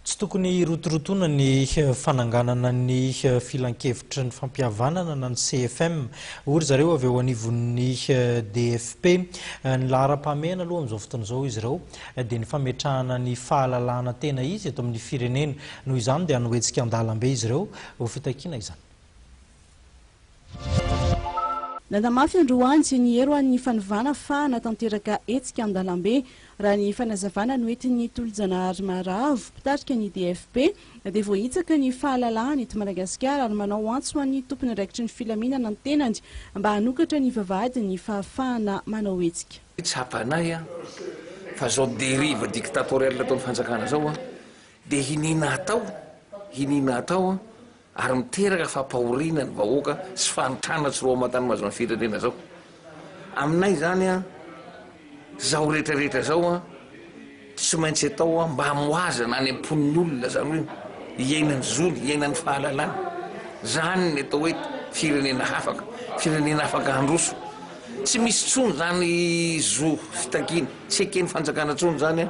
Tsy tokony hirotorotoana ny fananganana ny filankevitry ny fampihavanana na ny CFM, hoy ry zareo avy eo anivon'ny DFP. Ny laharam-pahamehana aloha amin'izao fotoana izao izy ireo dia ny fametrahana ny fahalalahana tena izy eto amin'ny firenena. Noho izany dia hanohetsika an-dalambe izy ireo ho fitakiana izany. Nanamafy androany ny heroan'ny fanovana fa hanatanteraka hetsika an-dalambe. Raha ny fanazavana noentin'ny Tolojanahary Maharavo, mpitarika ny DFP, dia voahitsaka ny fahalalahany eto Madagasikara ary manao antso an'ny tompon'andraikitry ny filaminana ny tenany mba hanokatra ny vavahadin'ny fahafahana manao hetsika. Tsapanay fa zao dérive dictatoriale ataon'ny fanjakana zao dia hiniana hatao, hiniana hatao ary miteraka fampahoriana ny vahoaka sy fahantrana tsy roa aman-tany mazon'ny firenena zao aminay izany an zao rehetra rehetra zao an tsy maintsy atao an mba amoazana any am-pon'ny olona zany hoe iainany zony iainany fahalalana zany ny atao hoe firenena hafaka firenena afaka handroso tsy misy tsony zany zo fitakiana tsy ekeny fanjakana tsony zany an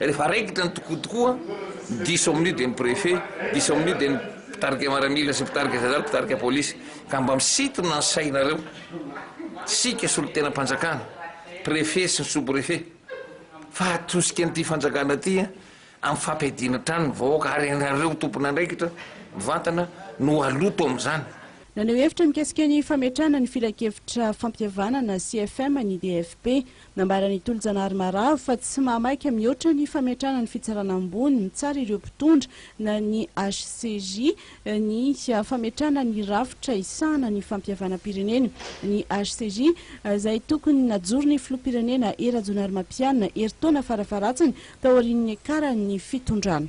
Rehefa raikitra ny tokoa tokoa, diso amin'io dia ny préfet, diso amin'io dia ny mpitarika miaramila sy mpitarika zandary, mpitarika polisy. Ka mba misintona ny sainareo, isika solontenam-panjakana, préfet sy ny sous-préfet, fa atosika an'ity fanjakana ity amin'ny fampiadiana hatrany ny vahoaka ary ianareo tompon'andraikitra mivantana no haloto amin'izany. Naneho hevitra mikasika ny fametrahana ny Filankevitra Fampihavanana, CFM, ny DFP. Nambaran'i Tolojanahary Maravo fa tsy mahamaika mihoatra ny fametrahana ny fitsarana ambony mitsara ireo mpitondra na ny HCJ ny fametrahana ny rafitra hisahana ny fampihavanam-pirenena. Ny HCJ izay tokony najoron'ny filoham-pirenena Hery Rajaonarimampianina herintaona farafaharatsiny taorian'ny niakaran'ny fitondrana.